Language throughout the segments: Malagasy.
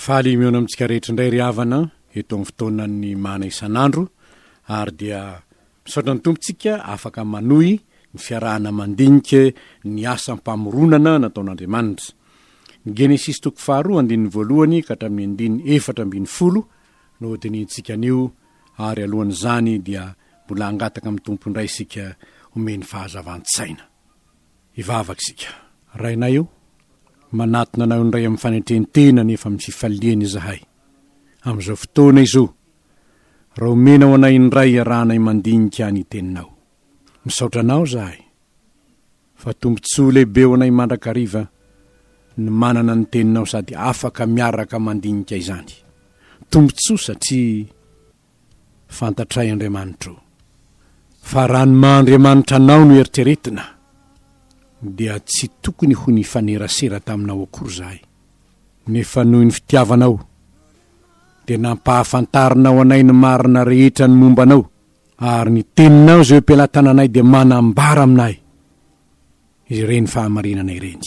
Faly mihaona amintsika rehetra indray ry havana eto amin'ny fotoanan'ny mana isan'andro ary dia misaotra ny Tompo tsika afaka manohy ny fiarahana mandinika ny asam-pamoronana nataon'Andriamanitra. Ny Genesisy toko faharoa andininy voalohany ka hatramin'ny andininy efatra ambin'ny folo no hodinihintsika anio ary alohan'izany dia mbola hangataka amin'ny Tompo indray isika homeny fahazavan-tsaina. Hivavaka isika. Rainay o, manatona Anao indray amin'ny fanetren-tena nefa amin'ny fifaliana izahay, amin'izao fotoana izao, raha omenao anay indray iarahanay mandinika ny Teninao. Misaotra Anao izahay, fa tombontsoa lehibe ho anay mandrakariva ny manana ny Teninao sady afaka miaraka mandinika izany. Tombontsoa satria Fantatray Andriamanitra o. Fa raha ny maha Andriamanitra anao no eritreretina, dia tsy tokony ho nifanerasera taminao akory izahay, nefa noho ny fitiavanao, dia nampahafantarinao anay ny marina rehetra ny momba anao, ary ny teninao izay eo am-pelatananay dia manambara aminay ireny fahamarinana ireny.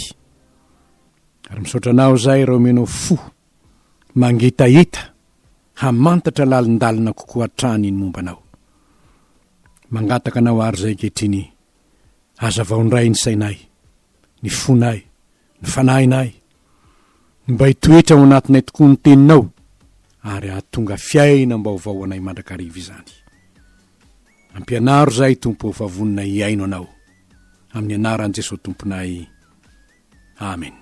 Ary misaotra anao izahay raha omenao fo. Mangitahita hamantatra lalindalina kokoa hatrany ny momba anao. Mangataka anao àry izay ankehitriny, hazavao indray ny sainay, ny fonay, ny fanahinay, ny mba hitoetra ao anatinay tokoa ny Teninao, ary hahatonga fiainam-baovao ho anay mandrakariva izany. Ampianaro izahay, Tompo ô, fa vonona hihaino Anao. Amin'ny anaran'i Jesoa Tomponay. Amena.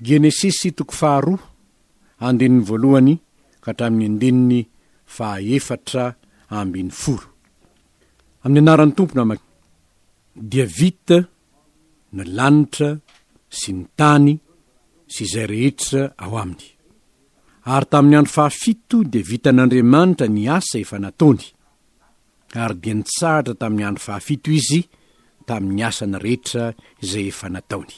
Genesisy toko faharoa, andininy voalohany ka hatramin'ny andininy fahaefatra ambin'ny folo. Amin'ny anaran'ny Tompo no amak. Dia vita ny lanitra sy ny tany sy izay rehetra ao aminy. Ary tamin'ny andro fahafito dia vitan'Andriamanitra ny asa efa nataony. ary dia nitsahatra tamin'ny andro fahafito izy tamin'ny asany rehetra izay efa nataony.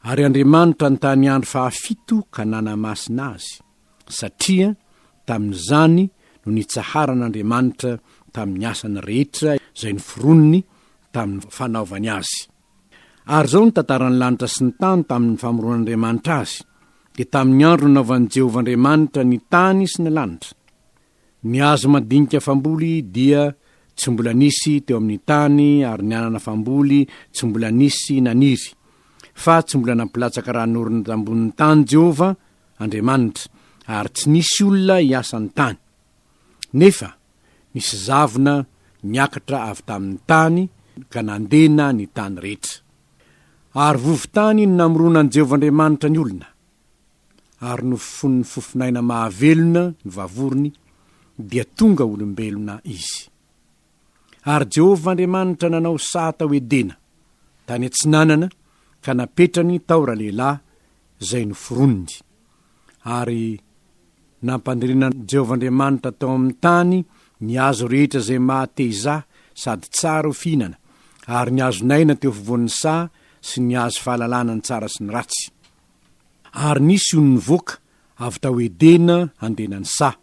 Ary Andriamanitra nitany andro fahafito ka nanamasina azy, satria tamin'izany no nitsaharan'Andriamanitra tamin'ny asany rehetra izay noforoniny tamin'ny fanaovany azy. Ary izao ny tantaran'ny lanitra sy ny tany tamin'ny famoronan'Andriamanitra azy, dia tamin'ny andro nanaovan'i Jehovah Andriamanitra ny tany sy ny lanitra. Ny hazo mandinika famboly dia tsy mbola nisy teo amin'ny tany ary ny anana famboly tsy mbola nisy naniry, fa tsy mbola nampilatsaka raha norina tambonin'ny tany Jehovah Andriamanitra, ary tsy nisy olona hiasa ny tany. Nefa nisy zavona niakatra avy tamin'ny tany ka nandena ny tany rehetra. Ary vovo-tany no namoronan'i Jehovah Andriamanitra ny olona. ary nofofonin'ny fofon'aina mahavelona ny vavorony, dia tonga olombelona izy. Ary Jehovah Andriamanitra nanao saha tao Edena, tany atsinanana, ka napetrany tao ralehilahy izay noforoniny. Ary nampandrinan'i Jehovah Andriamanitra tao amin'ny tany ny hazo rehetra izay maha-te-hizaha sady tsara ho fihinana, ary ny hazon'aina teo afovoan'ny saha sy ny hazo fahalalana ny tsara sy ny ratsy. Ary nisy ony nivoaka avy tao Edena handeha nanisaha.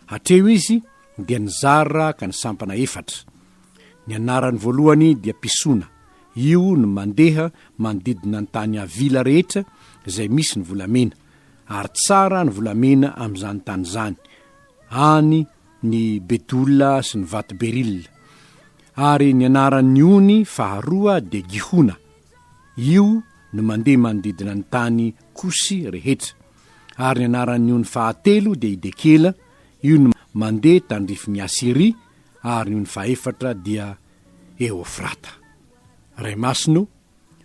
Hatreo izy dia nizara ka ny sampana efatra. Ny anarany voalohany dia Pisona. Io no mandeha manodidina ny tany Havila rehetra izay misy ny volamena. Ary tsara ny volamena amin'izany tany izany, any ny Bedola sy ny Vato Berila. Ary ny anaran'ny ony faharoa dia Gihona. Io no mandeha manodidina ny tany Kosy rehetra. Ary ny anaran'ny ony fahatelo dia i Dekela, io no mandeha tandrifin'i Asyria, ary ny ony fahefatra dia Eofrata. Ray Masina o,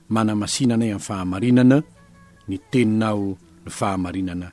manamasina anay amin'ny fahamarinana, ny Teninao no fahamarinana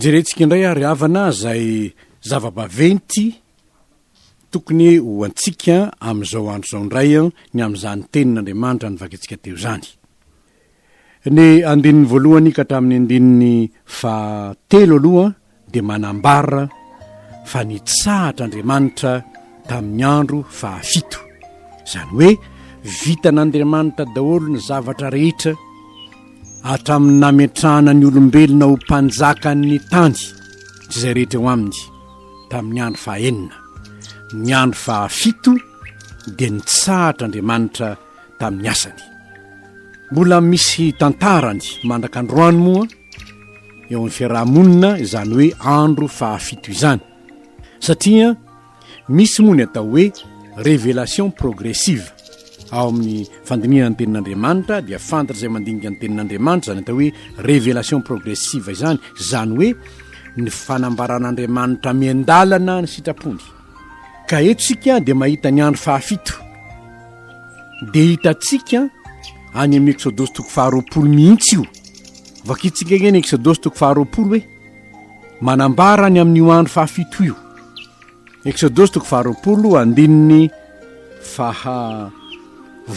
hojerentsika indray ary havana zay zava-baventy tokony ho antsika am'izao andro zao indray a ny am'izany tenin'andriamanitra ny vakintsika teo zany Ny andininy voalohany ka hatramin'ny andininy faha telo aloha dia manambara fa nitsahatra Andriamanitra tamin'ny andro faha fito. Izany hoe vitan' Andriamanitra daholo ny zavatra rehetra hatramin'ny nametrahana ny olombelona ho mpanjakan'ny tany sy izay rehetra eo aminy tamin'ny andro faha enina. Ny andro faha fito dia nitsahatra Andriamanitra tamin'ny asany. Mbola misy tantarany mandraka androany moa eo amin'ny fiaraha-monina izany hoe andro fahafito izany satria misy moa ny atao hoe révélation progressive ao amin'ny fandinihana ny tenin'Andriamanitra dia fantatra izay mandinika ny tenin'Andriamanitra izany atao hoe révélation progressive izany izany hoe ny fanambaran'Andriamanitra miandalana ny sitrapony. Ka eto isika dia mahita ny andro fahafito. Dia hitantsika any amin'ny Eksodosy toko faharoapolo mihitsy io. Vakintsika anie ny Eksodosy toko faharoapolo hoe manambara any amin'io andro fahafito io. Eksodosy toko faharoapolo andininy faha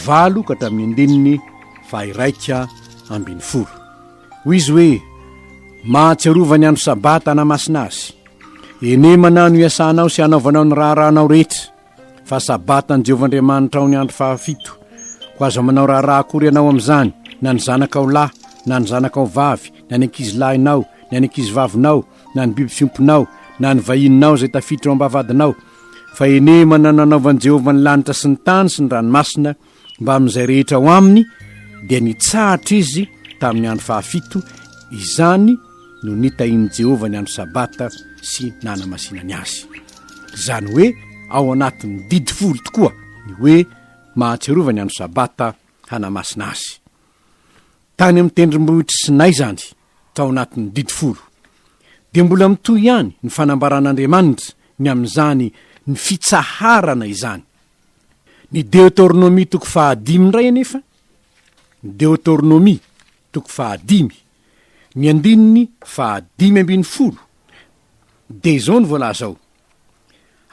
valo ka hatramin'ny andininy faha iraika ambin'ny folo. Hoy izy hoe mahatsiarovany andro sabata anamasina azy. Eny manao no iasanao sy anaovanao ny raharahanao rehetra fa sabata an'i Jehovah Andriamanitrao ny andro fahafito. Koa aza manao raharaha akory ianao amin'izany, na ny zanakao lahy, na ny zanakao vavy, na ny ankizilahinao, na ny ankizivavinao, na ny biby fiompinao, na ny vahininao izay tafiditra ao am-bavahadinao, fa eny manao no anaovan'i Jehovah ny lanitra sy ny tany sy ny ranomasina, Mbamin'izay rehetra ao aminy dia nitsahatra izy tamin'ny andro fahafito, izany no nitahian'i Jehovah ny andro Sabata sy nanamasinany azy. Izany hoe ao anatin'ny didy folo tokoa ny hoe mahatsiarova ny andro Sabata hanamasina azy. Tany amin'ny tendrombohitr'i Sinay izany, tao anatin'ny didy folo. Dia mbola mitohy ihany ny fanambaran'Andriamanitra ny amin'izany ny fitsaharana izany. Ny Deoteronomia toko fahadimy indray anefa, ny Deoteronomia toko fahadimy, ny andininy fahadimy ambin'ny folo, dia izao no voalaza ao,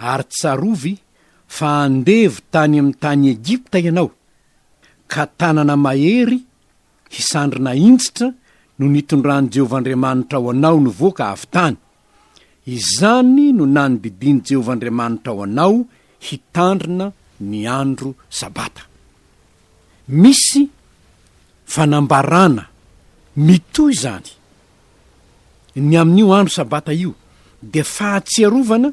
Ary tsarovy fa andevo tany amin'ny tany Egypta ianao, ka tanana mahery Hisandry nahintsitra no nitondran'i Jehovah Andriamanitra ao anao nivoaka avy tany. Izany no nanbibian'i Jehovah Andriamanitra ao anao hitandrina ny andro Sabata. Misy fanambarana mitohy izany. Ny amin'io andro Sabata io dia fahatsiarovana,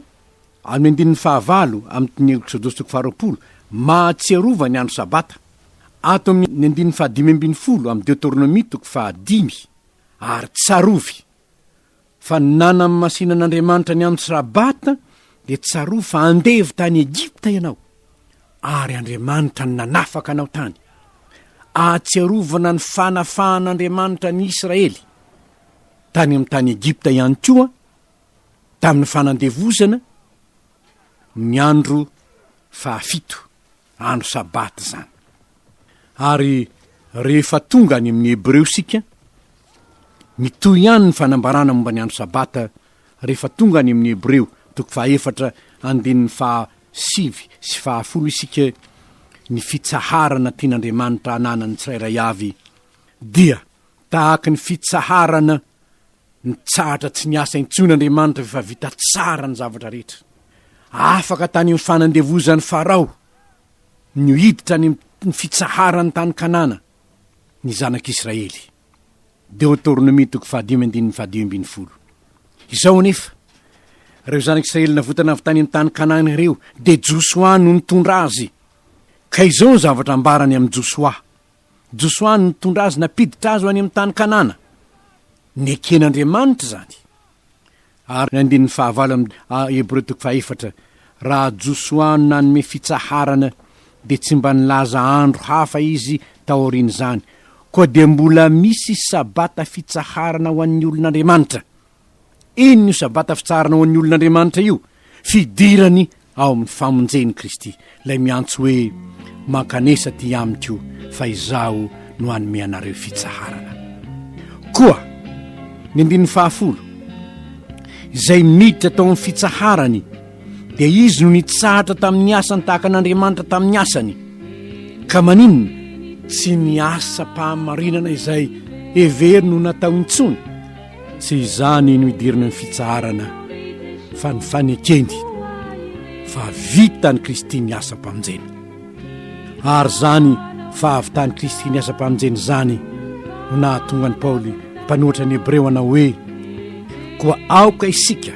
amin'ny andininy fahavalo amin'ny tiny Eksodosy toko faharoapolo, mahatsiarova ny andro Sabata. ato amin' ny andininy fahadimy ambin'ny folo amin'ny Deoteronomia toko fahadimy, Ary tsarovy fa nanamasin' an' Andriamanitra ny andro Sabata, dia tsarovy fa andevo tany Egypta ianao, ary Andriamanitra no nanafaka anao tany. Ahatsiarovana ny fanafahan' Andriamanitra an' i Israely tany amin'ny tany Egypta ihany koa tamin'ny fanandevozana ny andro fahafito. andro Sabata izany. Ary rehefa tonga any amin'ny Hebreo isika, mitohy ihany ny fanambarana momba ny andro Sabata rehefa tonga any amin'ny Hebreo, toko fahaefatra andininy faha sivy sy faha folo isika, ny fitsaharana tian'Andriamanitra hananan'ny tsirairay avy dia tahaka ny fitsaharana Nitsahatra tsy niasa intsony Andriamanitra rehefa vita tsara ny zavatra rehetra. Afaka tany amin'ny fanandevozan'i Farao ny ho hiditra any amin'ny fitsaharan'ny tany Kanana ny zanak'Israely. Deoteronomia toko fahadimy andininy fahadimy ambin'ny folo. Izao anefa, ireo zanak'Israely navotana avy tany amin'ny tany Kanana ireo dia Josoa no nitondra azy. Ka izao ny zavatra ambarany amin'i Josoa, Josoa no nitondra azy nampiditra azy ho any amin'ny tany Kanana. Neken'Andriamanitra izany. Ary andininy fahavalo amin'ny A Hebreo toko fahaefatra, Raha Josoa no nanome fitsaharana, dia tsy mba nilaza andro hafa izy taorian'izany, koa dia mbola misy Sabata fitsaharana ho an'ny olon'Andriamanitra. Inona io Sabata fitsaharana ho an'ny olon'Andriamanitra io? Fidirany ao amin'ny famonjen'i Kristy, ilay miantso hoe, Mankanesa aty amiko, fa izaho no hanome anareo fitsaharana. Koa, ny andininy fahafolo, Izay miditra tao amin'ny fitsaharany, dia izy no nitsahatra tamin'ny asany tahaka an'Andriamanitra tamin'ny asany. Ka maninona? Tsy ny asam-pahamarinana izay heveriny ho natao intsony. Tsy izany no idirany amin'ny fitsaharana fa ny fanekeny fa vitan'i Kristy ny asam-pamonjena. Ary izany fahavitan'i Kristy ny asam-pamonjena izany no nahatonga an'i Paoly mpanohatra ny Hebreo hanao hoe koa aoka isika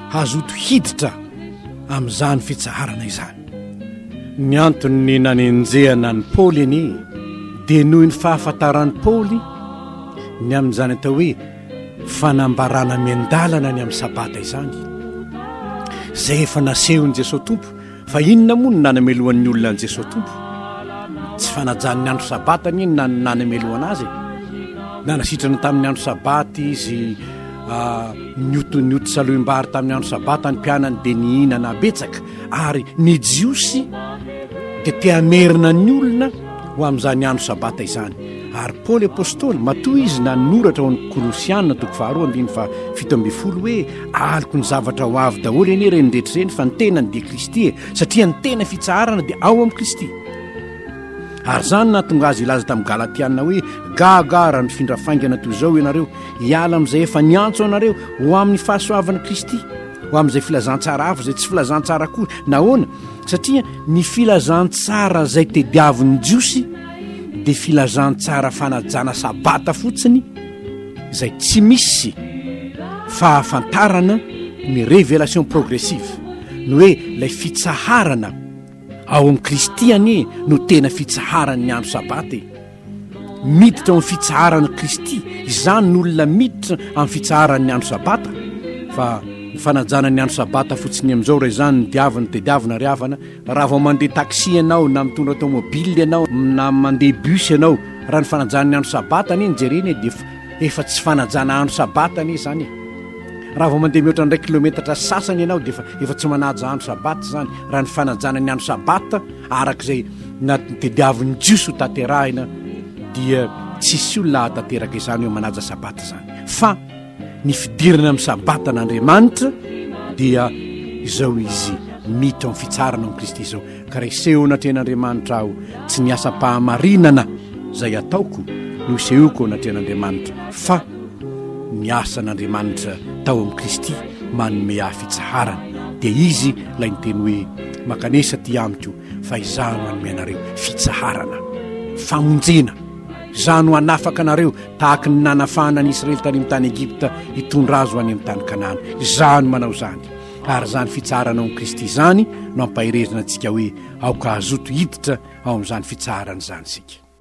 hazoto hiditra amin'izany fitsaharana izany. Ny anton'ny nanenjehana an'i Paoly anie dia noho ny fahafantaran'i Paoly ny amin'izany atao hoe fanambarana miandalana ny amin'ny sabata izany, izay efa nasehon'i Jesoa Tompo. Fa inona moa no nanamelohan'ny olona an'i Jesoa Tompo? Tsy fanajan'ny andro sabata anie no nanamelohana azy e. Nanasitrana tamin'ny andro sabata izy ah, nioto nioto salohim-bary tamin'ny andro sabata ny mpianany dia nihinana betsaka. Ary ny Jiosy dia te hamerina ny olona ho amin'izany andro Sabata izany. Ary Paoly Apostoly, matoa izy nanoratra ao amin'ny Kolosiana toko faharoa andininy fahafito ambin'ny folo hoe, Aloky ny zavatra ho avy daholo anie ireny rehetra ireny, fa ny tenany dia Kristy e, satria ny tena fitsaharana dia ao amin'i Kristy. Ary izany nahatonga azy hilaza tamin'ny Galatiana hoe, Gaga raha nifindra faingana toy izao ianareo, hiala amin'izay efa niantso anareo ho amin'ny fahasoavan'i Kristy. ho amin'izay filazantsara avo izay tsy filazantsara koa nahoana satria ny filazantsara izay tediavin'ny jiosy dia filazantsara fanajana sabata fotsiny izay tsy misy fahafantarana ny révélation progressive ny hoe ilay fitsaharana ao amin'i kristy anie no tena fitsaharan'ny andro sabata e Miditra ao amin'ny fitsaharan'i Kristy izany ny olona miditra amin'ny fitsaharan'ny andro sabata fa ny fanajana ny andro sabata fotsiny amin'izao raha izany ny diavina tediavina ary havana raha vao mandeha taxi ianao na mitondra tomobile ianao na mandeha bus ianao raha ny fanajana ny andro sabata anie ny jerena e dia efa tsy fanajana andro sabata anie izany e raha vao mandeha mihoatra indray kilometatra sasany ianao dia efa efa tsy manaja andro sabata izany raha ny fanajana ny andro sabata Araka izay natediavin'ny Jiosy ho tanterahina dia tsisy olona hahatanteraka izany hoe manaja sabata izany fa ny fidirana amin'ny sabatan'Andriamanitra dia izao izy miditra amin'ny fitsarana amin'i Kristy izao ka raha iseho anatrehan'Andriamanitra aho tsy ny asam-pahamarinana izay ataoko no isehoko anatrehan'Andriamanitra fa Ny asan'Andriamanitra tao amin'i Kristy manome ahy fitsaharana, dia Izy ilay niteny hoe, Mankanesa aty amiko, fa Izaho no hanome anareo fitsaharana, famonjena. Izaho no hanafaka anareo, tahaka ny nanafahana an'i Israely tany amin'ny tany Egypta, hitondra azy ho any amin'ny tany Kanana. Izaho no manao izany. Ary izany fitsaharana ao amin'i Kristy izany no ampaherezana antsika hoe aoka hazoto hiditra ao amin'izany fitsaharana izany isika.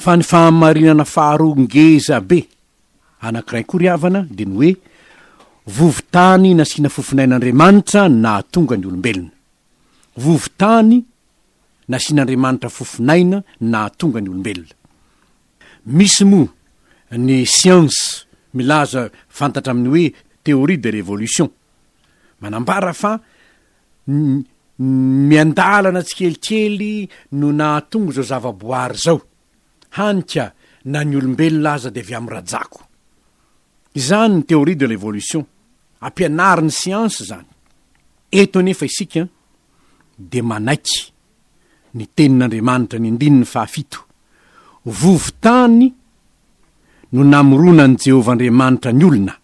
Fa ny fahamarinana faharoa ngeza be anankiray koa ry havana dia ny hoe, vovon-tany nasiana fofon'ain'Andriamanitra no nahatonga ny olombelona. Vovon-tany nasian'Andriamanitra fofon'aina no nahatonga ny olombelona. Misy moa ny siansa milaza fantatra amin'ny hoe théorie de l'évolution. Manambara fa miandalana tsikelikely no nahatonga izao zavaboary izao, hany ka na ny olombelona aza dia avy amin'ny rajako. Izany ny théorie de l'évolution, ampianarin'ny siansa izany. Eto anefa isika dia manaiky ny tenin'Andriamanitra ny andininy fahafito, Vovon-tany no namoronan'i Jehovah Andriamanitra ny olona.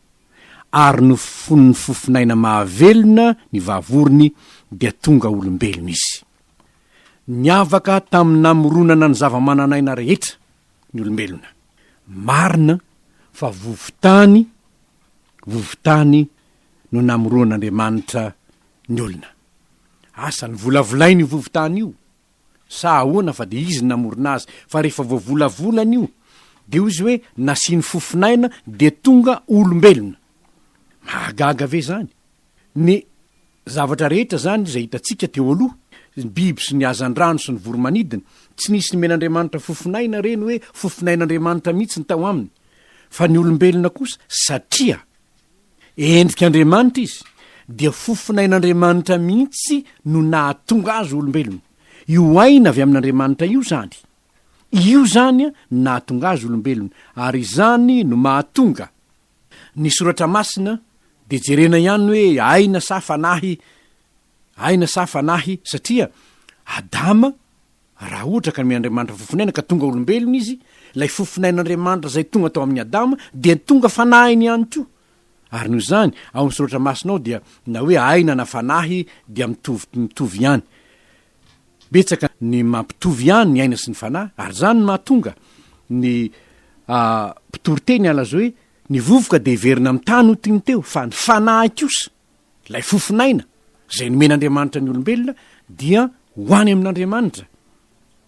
ary nofofonin'ny fofon'aina mahavelona ny vavorony dia tonga olombelona izy. Niavaka tamin'ny namoronana ny zava-manan'aina rehetra ny olombelona. Marina fa vovon-tany, vovon-tany no namoroan'Andriamanitra ny olona. Asa, novolavolainy io vovon-tany io. sa ahoana fa dia izy no namorona azy fa rehefa vao volavolany io dia hoy izy hoe nasiany fofonaina dia tonga olombelona. Mahagaga ve zany? Ny zavatra rehetra zany izay hitantsika teo aloha, ny biby sy ny hazandrano sy ny voromanidina, tsy nisy nomen'Andriamanitra fofonaina ireny hoe fofonain'Andriamanitra mihitsy ny tao aminy, fa ny olombelona kosa satria Endrik'Andriamanitra izy, dia fofonain'Andriamanitra mihitsy no nahatonga azy ho olombelona. Io aina avy amin'Andriamanitra io izany. Io izany no nahatonga azy olombelona, ary izany no mahatonga ny Soratra Masina dia jerena ihany hoe aina sa fanahy, Aina sa fanahy? Satria Adama, raha ohatra ka nomen'Andriamanitra fofon'aina ka tonga olombelona izy, ilay fofon'ain'Andriamanitra izay tonga tao amin'i Adama dia tonga fanahiny ihany koa. Ary noho izany, ao amin'ny Soratra Masina ao dia na hoe aina na fanahy dia mitovy mitovy ihany. Betsaka ny mampitovy ihany ny aina sy ny fanahy, ary izany no mahatonga ny mpitoriteny halaza hoe, Ny vovoka dia heverina amin'ny tany ho tiny teo, fa ny fanahy kosa. Ilay fofon'aina izay nomen'Andriamanitra ny olombelona dia ho any amin'Andriamanitra,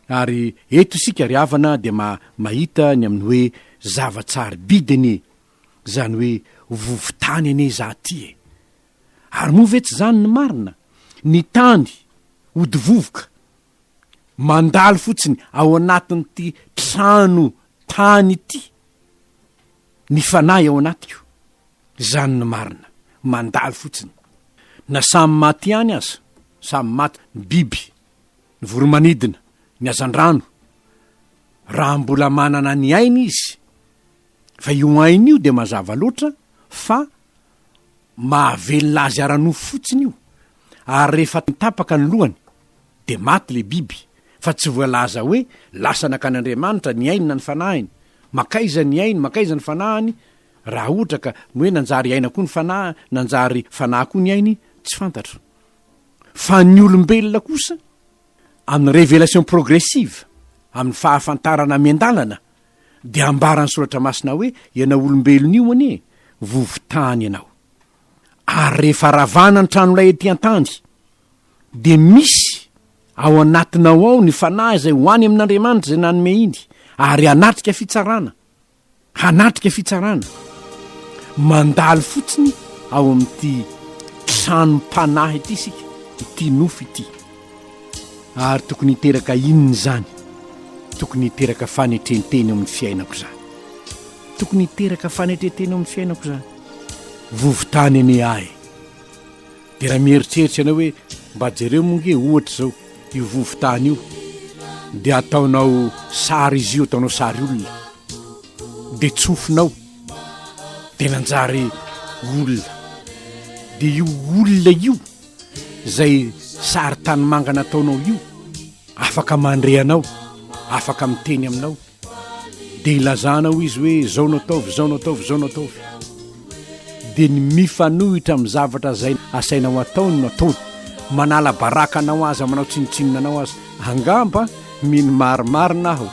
ary eto isika ry havana dia ma, mahita ny amin'ny hoe zava-tsarobidy anie izany hoe vovo-tany anie izaho ity e! Ary moa ve tsy izany ny marina? Ny tany, hodi-vovoka, mandalo fotsiny ao anatin'ity trano tany ity ny fanahy ao anatiko, izany ny marina, mandalo fotsiny. Na samy maty ihany aza, samy maty ny biby, ny voromanidina, ny hazandrano, raha mbola manana ny ainy izy, fa io ainy io dia mazava loatra fa mahavelona azy ara-nofo fotsiny io, ary rehefa tapaka ny lohany, dia maty ilay biby, fa tsy voalaza hoe lasa nakany Andriamanitra ny ainy na ny fanahiny. Mankaiza ny ainy, mankaiza ny fanahiny? Raha ohatra ka ny hoe nanjary aina koa ny fanahy, nanjary fanahy koa ny ainy, tsy fantatro. Fa ny olombelona kosa, amin'ny révélation progressive, amin'ny fahafantarana miandalana, Dia ambaran'ny soratra masina hoe ianao olombelona io anie vovon-tany ianao. Ary rehefa ravana ny tranolay ety an-tany, dia misy ao anatinao ao ny fanahy izay ho any amin'Andriamanitra izay nanome iny, ary hanatrika fitsarana, hanatrika fitsarana, mandalo fotsiny ao amin'ity tranom-panahy ity isika, ity nofo ity. Ary tokony hiteraka inona izany? Tokony hiteraka fanetrentena eo amin'ny fiainako izany. Tokony hiteraka fanetrentena eo amin'ny fiainako izany. Vovontany anie ahy. Dia raha mieritreritra ianao hoe mba jereo moa nge ohatra izao io vovontany io, dia ataonao sary izy io, ataonao sary olona, dia tsofinao, dia nanjary olona, dia io olona io. izay sary tanimanga nataonao io afaka mandre anao afaka miteny aminao dia ilazanao izy hoe zao no ataovy zao no ataovy zao no ataovy dia ny mifanohitra amin'ny zavatra zay asainao ataony no ataony manala baraka anao aza manao tsinotsinona anao aza angamba mino marimarina aho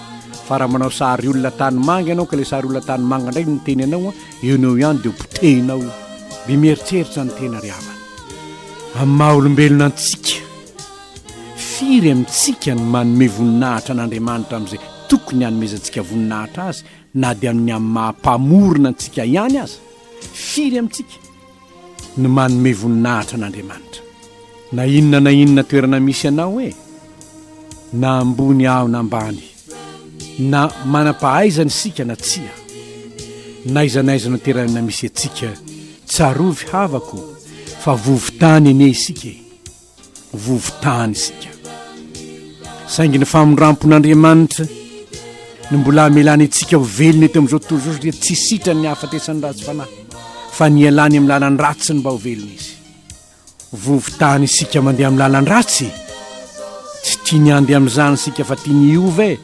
fa raha manao sary olona tanimanga ianao ka le sary olona tanimanga indray no miteny anao Enao ihany dia ho potehinao io. Be mieritreritra ny tena ry havana. Amin'ny maha olombelona antsika, firy amintsika no manome voninahitra an'Andriamanitra amin'izay tokony hanomezantsika voninahitra azy na dia amin'ny amin'ny maha Mpamorona antsika ihany aza? Firy amintsika? ny manome voninahitra an'Andriamanitra, na inona na inona toerana misy anao e, na ambony aho na ambany, na manam-pahaizana isika na tsia, n'aiza n'aiza no terana misy antsika, tsarovy havako fa vovo-tany anie isika e. vovo-tany isika. Saingy ny famindram-pon'Andriamanitra no mbola hamelany antsika ho velona eto amin'izao tontolo izao satria tsy sitrany ny hahafatesan'ny ratsy fanahy fa ny ialany amin'ny lalan'ny ratsy ny mba ho velona izy. Vovo-tany isika mandeha amin'ny lalan-dratsy. Tsy tiany handeha amin'izany isika fa tiany hiova e.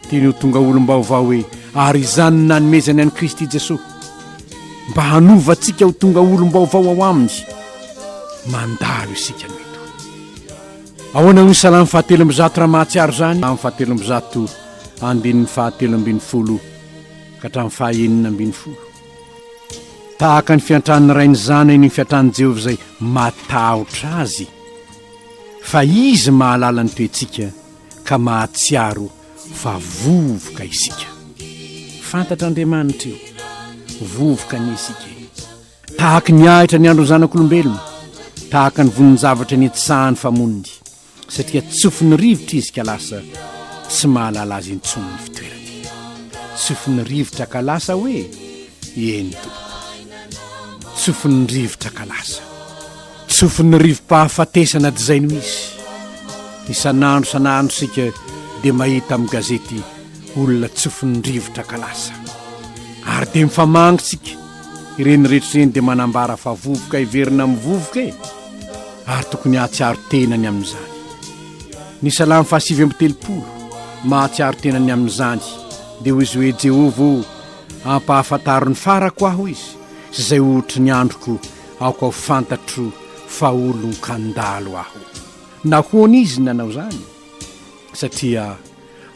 Tiany ho tonga olom-baovao e, ary izany no nanomezany an'i Kristy Jesoa, mba hanova antsika ho tonga olom-baovao ao Aminy. Mandalo isika no eto. Ahoana hoy Salamo fahatelo amby zato raha mahatsiaro izany? Salamo fahatelo amby zato, andininy fahatelo ambin'ny folo ka hatramin'ny fahaenina ambin'ny folo. Tahaka ny fiantran'ny ray ny zanany ny fiantran'i Jehovah izay matahotra azy, fa Izy mahalala ny toetsika. ka mahatsiaro fa vovoka isika. Fantatr'Andriamanitra io, vovoka anie isika e! Tahaka ny ahitra ny andron'ny zanak'olombelona, tahaka ny vonin-javatra nitsahan'ny famoniny, satria tsofin'ny rivotra izy ka lasa tsy mahalala azy intsony ny fitoerany. Tsofin'ny rivotra ka lasa hoe, eny tompoko. Tsofin'ny rivotra ka lasa. Tsofin'ny rivo-pahafatesana dizay no izy. Isan'andro isan'andro isika dia mahita amin'ny gazety olona tsofin'ny rivotra ka lasa. Ary dia mifamangy isika, ireny rehetra ireny dia manambara fa vovoka heverina amin'ny vovoka e! Ary tokony hahatsiaro tena ny amin'izany. Ny Salamo fahasivy amby telopolo, mahatsiaro tena ny amin'izany, dia hoy izy hoe, Jehovah ô, ampahafantaro ny farako aho izy, sy izay ohatry ny androko, Aoka ho fantatro fa olon-kandalo aho. Nahoana izy nanao izany? Satria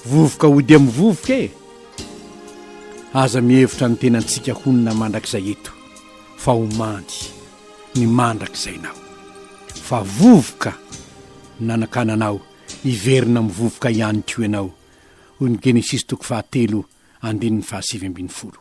vovoka ho dia mivovoka e! Aza mihevitra ny tenantsika honina mandrakizay eto fa ho mandry ny mandrakizay nao. Fa vovoka nanakananao hiverina mivovoka ihany koa ianao, hoy ny Genesisy toko fahatelo andininy fahasivy ambin'ny folo.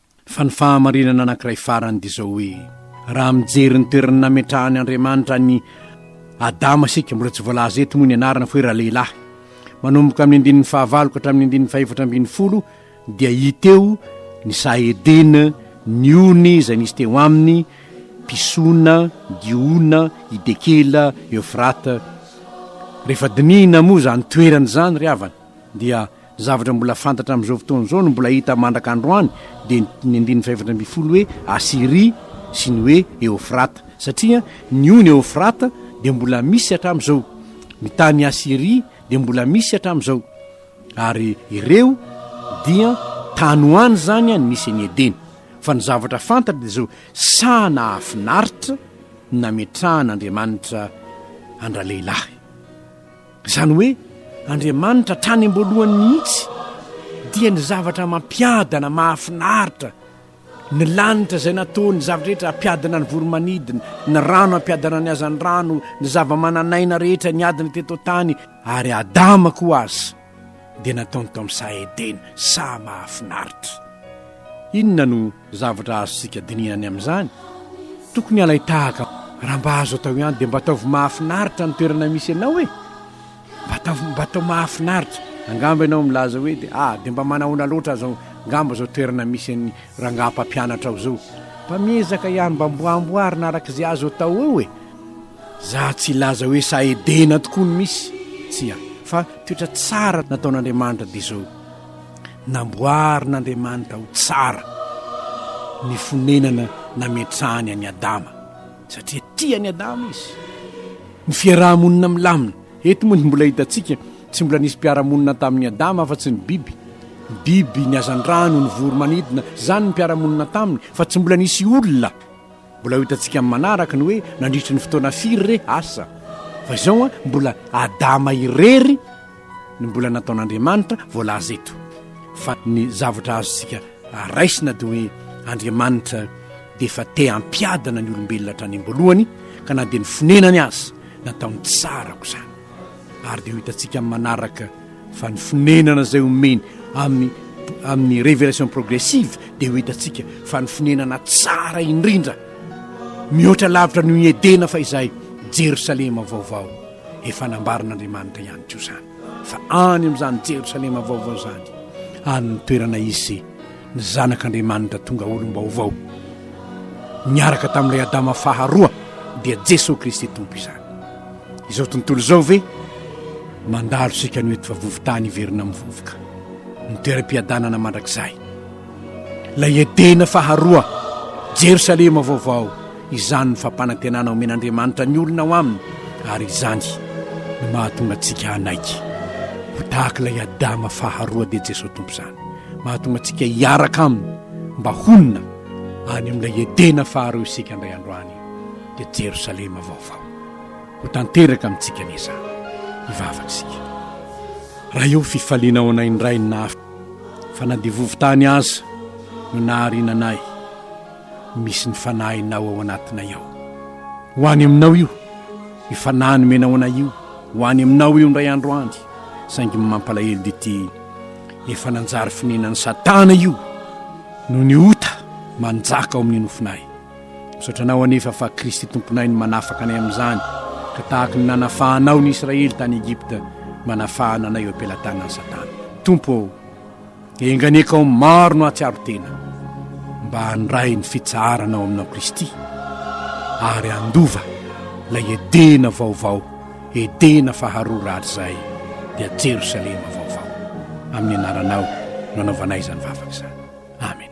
Fa ny fahamarinana anankiray farany dia izao hoe, raha mijery ny toerana nametrahan' Andriamanitra an' i Adama isika, mbola tsy voalaza eto moa ny anarana fa hoe ralehilahy, manomboka amin' ny andininy fahavalo ka hatramin' ny andininy fahefatra ambin'ny folo, dia hita eo ny saha Edena, ny ony izay nisy teo aminy, Pisona, Gihona, Hidekela, Eofrata. Rehefa dinihina moa izany toerana izany ry havana dia Zavatra mbola fantatra amin'izao fotoana izao no mbola hita mandraka androany dia ny andininy fahefatra ambin'ny folo hoe Asyria sy ny hoe Eofrata satria ny ony Eofrata dia mbola misy hatramin'izao, ny tany Asyria dia mbola misy hatramin'izao ary ireo dia tany ho any izany any nisy an'i Edena. Fa ny zavatra fantatra dia izao, saha nahafinaritra ny nametrahan'Andriamanitra an-dralehilahy. Izany hoe Andriamanitra hatrany am-boalohany mihitsy dia ny zavatra mampiadana mahafinaritra, ny lanitra izay nataony zavatra rehetra hampiadana ny voromanidina, ny rano hampiadana ny hazandrano, ny zava-manan'aina rehetra niadana teto an-tany ary Adama koa aza dia nataony tao amin'ny saha Edena, saha mahafinaritra. Inona no Zavatra azontsika dinihina any amin'izany, tokony halay tahaka raha mba azo atao ihany dia mba ataovy mahafinaritra ny toerana misy anao e! Mba ataovy mba atao mahafinaritra. Angamba ianao milaza hoe dia ah dia mba manahoana loatra aza angamba izao toerana misy an'ny rangahy mpampianatra ao izao. Mba miezaka ihany mba mbo amboarina araka izay azo atao eo e! Za tsy hilaza hoe sahy edena tokoa ny misy, tsia, fa toetra tsara nataon'Andriamanitra dia izao. Namboarin'Andriamanitra ho tsara ny fonenana nametrahany an'i Adama, satria tia an'i Adama izy. Ny fiaraha-monina milamina. Eto moa dia mbola hitantsika, tsy mbola nisy mpiara-monina tamin'i Adama afa-tsy ny biby. Ny biby, ny hazandrano, ny voromanidina, izany ny mpiara-monina taminy, fa tsy mbola nisy olona. Mbola ho hitantsika amin'ny manaraka ny hoe nandritry ny fotoana firy re asa. Fa izao an, mbola Adama irery no mbola nataon'Andriamanitra voalaza eto. Fa ny zavatra azontsika raisina dia hoe Andriamanitra dia efa te hampiadana ny olombelona hatrany am-boalohany, ka na dia ny fonenany aza nataony tsara aok'izany. Ary dia ho hitantsika amin'ny manaraka fa ny fonenana izay omeny amin'ny amin'ny révélation progressive dia ho hitantsika fa ny fonenana tsara indrindra mihoatra lavitra noho i Edena fa izay Jerosalema vaovao efa nambarin'Andriamanitra ihany koa izany fa any amin'izany Jerosalema vaovao izany any ny toerana izy Ny Zanak'Andriamanitra tonga olom-baovao niaraka tamin'ilay Adama faharoa dia Jesoa Kristy Tompo izany. Izao tontolo izao ve mandalo isika anio eto fa vovontany hiverina amin'ny vovoka, ny toeram-piadanana mandrakizay. Ilay Edena faharoa, Jerosalema vaovao, izany ny fampanantenana omen'Andriamanitra ny olona ao aminy ary izany no mahatonga antsika hanaiky ho tahaka ilay Adama faharoa dia Jesoa Tompo izany. Mahatonga antsika hiaraka aminy mba honina any amin'ilay Edena faharoa isika indray andro any, dia Jerosalema vaovao. Ho tanteraka amintsika anie izany. Hivavaka isika. Raha eo fifaliana ao anay indray ny nahafaka, fa na dia vovo-tany aza no nahariana anay, misy ny Fanahinao ao anatinay ao. Ho any Aminao io, io Fanahy nomenao anay io, ho any Aminao io indray andro any, saingy mampalahelo dia ity, efa nanjary fonenan'i satana io no ny ota manjaka ao amin'ny nofonay misaotra anao anefa fa kristy tomponay ny manafaka anay amin'izany ka tahaka ny nanafahanao ny israely tany egypta manafahana anay eo am-pelatanan'i satana tompo ao enganekao maro no atsiaro tena mba handray ny fitsaharanao aminao kristy ary andova lay edena vaovao Edena faharoa rahatrizay dia Jerosalema vaovao. Amin'ny anaranao no anaovanay izany vavaka izany. Amena.